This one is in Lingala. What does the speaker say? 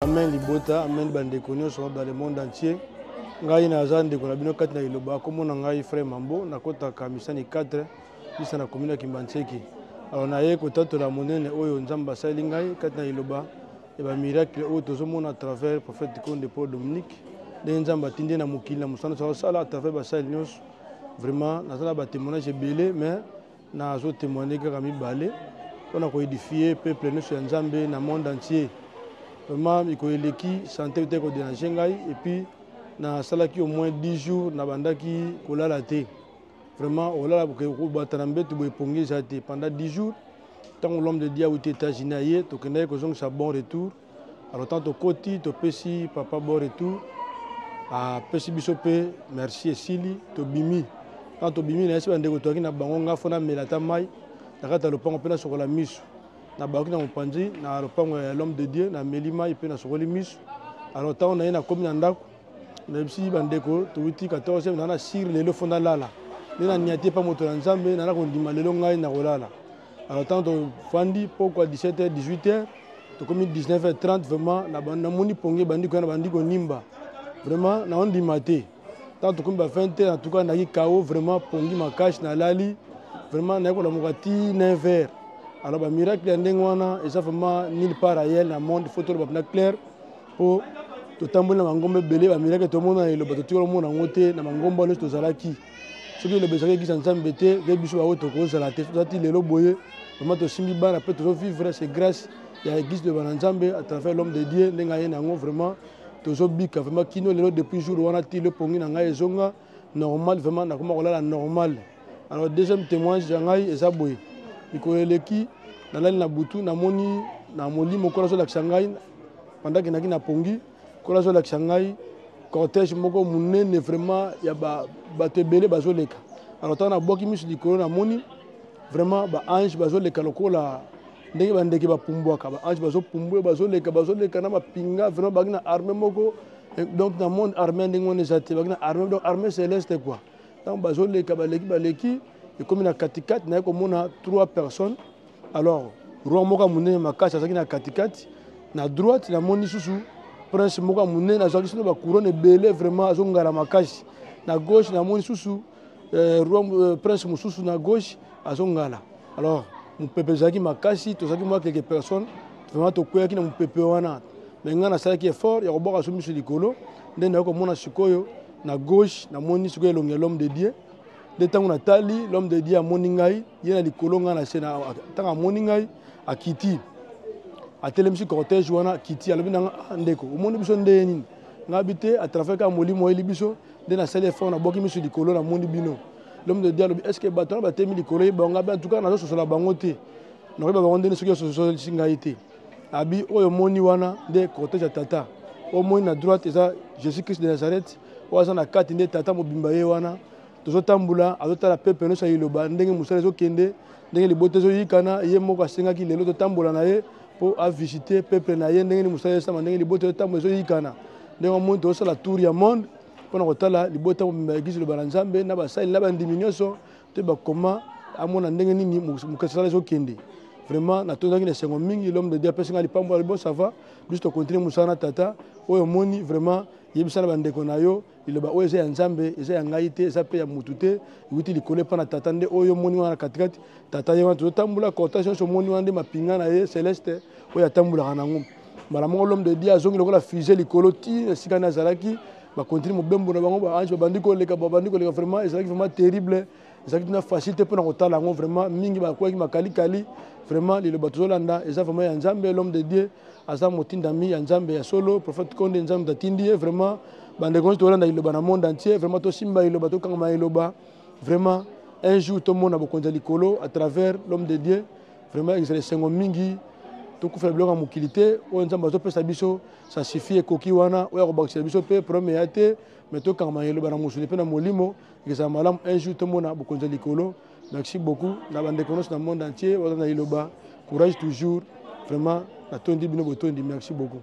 Amen libota, amen bandeko nyonso dans le monde entier. Ngai naza ndeko na bino kati na Iloba, kombo na ngai Frère Mambo, nakotaka misani 4 bisa na commune ya Kimbanseki. Alors naye kotatola monene oyo Nzambe asali ngai kati na Iloba ya ba miracle oyo tozomona à travers prophète Konde Paul Dominique. Ndenge Nzambe atindi na mokili na mosala na sala à travers basali nyonso. Vraiment naza na ba témoignages ebele mais Nazo temoigner kaka mibale pona ko edifier peuple nioso ya Nzambe na monde entier. Vraiment miko eleki sante euta ko deranger ngai et puis nasalaki au moins 10 jours nabandaki kolala te. Vraiment olala kobata na mbetu boye pongi eza te pendant 10 jours. Tango l'homme de Dieu auti Etats-Unis aye tokendaki kozongisa bon retour. Alors tant tokoti topesi papa bon retour apesi biso mpe merci esili tobimi ntango tobimi nayesi bandeko toyaki na bango nga fo namela ata mai na kati ya lopango mpe nasokola miso nabaoki na mopanzi na lopango ya l'homme de dieu nameli mai mpe nasokoli miso alors ntango naye nakomi na ndako nayebisi bandeko towuti 14 naa na sire lelo fo nalala nde nania te mpa moto na nzambe nana kondima lelo ngai nakolala Alors tant tofandi pokwa 17h 18h tokomi 19h30 vraiment namoni pongi ebandi koya na bandi konimba vraiment naondima te ntango tokomi ba 20h en tout cas nayaki kao vraiment pongi makasi nalali vraiment naye kolamuka ti 9h alors bamiracle ya ndenge wana eza vraiment nil part ailleurs na monde faut toloba mpena claire mpo totamboli na bangomba ebele bamiracle tomona na eloba totikala omona yango te na bangomba nyonso tozalaki soki eloba ezalaki eglise ya nzambe te nde biso baoyo tokozala te soki ozati lelo boye vraimen tosimbi bana mpe tozovivre se grâce ya eglise de bana nzambe à travers l'homme de dieu ndenge aye na yango vraiment tozobika vraiment kino lelo depuis jour wana ti le pongi na ngai ezonga normal vraiment nakoma kolala normal alors deuxième témoignage ya ngai eza boye mikolo eleki nalali na butu namoni na molimo nkolo azolakisa ngai pendant ke naki na pongi Nkolo azolakisa ngai cortège moko monene vraiment ya bato ebele bazoleka. Alors ntango nabwaki miso likolo namoni vraiment ba ange bazoleka lokola ndenge bandeke bapumbwaka ba ange bazopumbwe bazoleka bazoleka na mapinga vraiment bangi na armée moko donc na monde armée ndenge wana eza te bangi na armée donc armée céleste quoi ntango bazoleka baleki baleki ekomi na katikati naye komona trois personnes alors roi moko ya monene makasi azalaki na katikati na droite namoni susu prince moko ya monene azwaki sino bacouronne ebele vraiment azongala makasi na gauche namoni susu eh, roi eh, prince mosusu na gauche azongala alors mopepe ezalaki makasi tozalaki mwa quelque personne vraiment tokweyaki na mopepe wana me ngai nasalaki effort ya kobwaka so miso likolo nde nayoki komona sikoyo na gauche namoni sikoyo elongi ya l'homme de dieu nde ntango natali l'homme de dieu amoni ngai ye na likolo ngai na se na ntango amoni ngai akiti atelemisi cortège wana akiti alobi na nga ah, ndeko omoni biso ndeye nini ngai bi te atravers kaka molimo oyeli biso nde nasali effort nabwaki miso likolo namoni bino l'homme de dieu alobi est ce que bato wana batemi likolo ye bango ngai bi en tout cas nazososola bango te nakoyeba bango ndeni soki ososolisi ngai te abi oyo omoni wana nde cortège ya tata omoni na droite eza jésus christ de nazareth oyo aza na kati nde tata mobimba ye wana tozotambola azotala pepe nyonso ya liloba ndenge mosala ezokende ndenge libota ezoyikana ye moko asengaki lelo totambola na ye mpo avisite pepe na ye ndenge ni mosala ezosama ndenge libota ezotambola ezoyikana ndenge omoni tozosala tour ya monde mpo na kotala libota mobimba ya eglise liloba na nzambe na basali na bandimi nyonso to bakoma amona ndenge nini mokesala ezokende vraiment natondaki na esengo mingi l'homme de dieu apesi ngai lipambo ya libosava biso tokontinue mosala na tata oyo omoni vraiment yebisa na bandeko na yo liloba oyo eza ya nzambe eza ya ngai te eza mpe ya motu te ewuti likolo epai na tata nde oyo omoni wana na katikati tata ye wana tozotambola cortège nyonso omoni wana nde mapinga na ye celeste oyo atambolaka na yango mbala moko l'homme de dieu azongi lokola fusée likolo ti na esika nde azalaki bakontinue mobembo na bango baange babandi koleka babandi koleka vraiment ezalaki vraiment terrible ezalaki tuna facile te mpona kotala yango vraiment mingi bakwaki makalikali vraiment liloba tozolanda eza vraiment ya nzambe l'homme de dieu aza motindami ya nzambe ya solo prophète konde nzambe moto atindi ye vraiment bandeko nyonso tolanda liloba na monde entier vraiment tosimba liloba tokangama na liloba vraiment un jour tomona bokonzi ya likolo à travers l'homme de dieu vraiment ezala esengo mingi tokufela biloko ya mokili te oyo nzambe azopesa biso sa suffit ekoki wana oyo akobakisela biso mpe problème eya te mais tokangama na liloba na mosuni mpe na molimo Ekozala malamu un jour tomona bokonzi ya likolo. Merci beaucoup na ba ndeko nyonso na monde entier baza na liloba courage toujours vraiment natondi bino botondi merci beaucoup.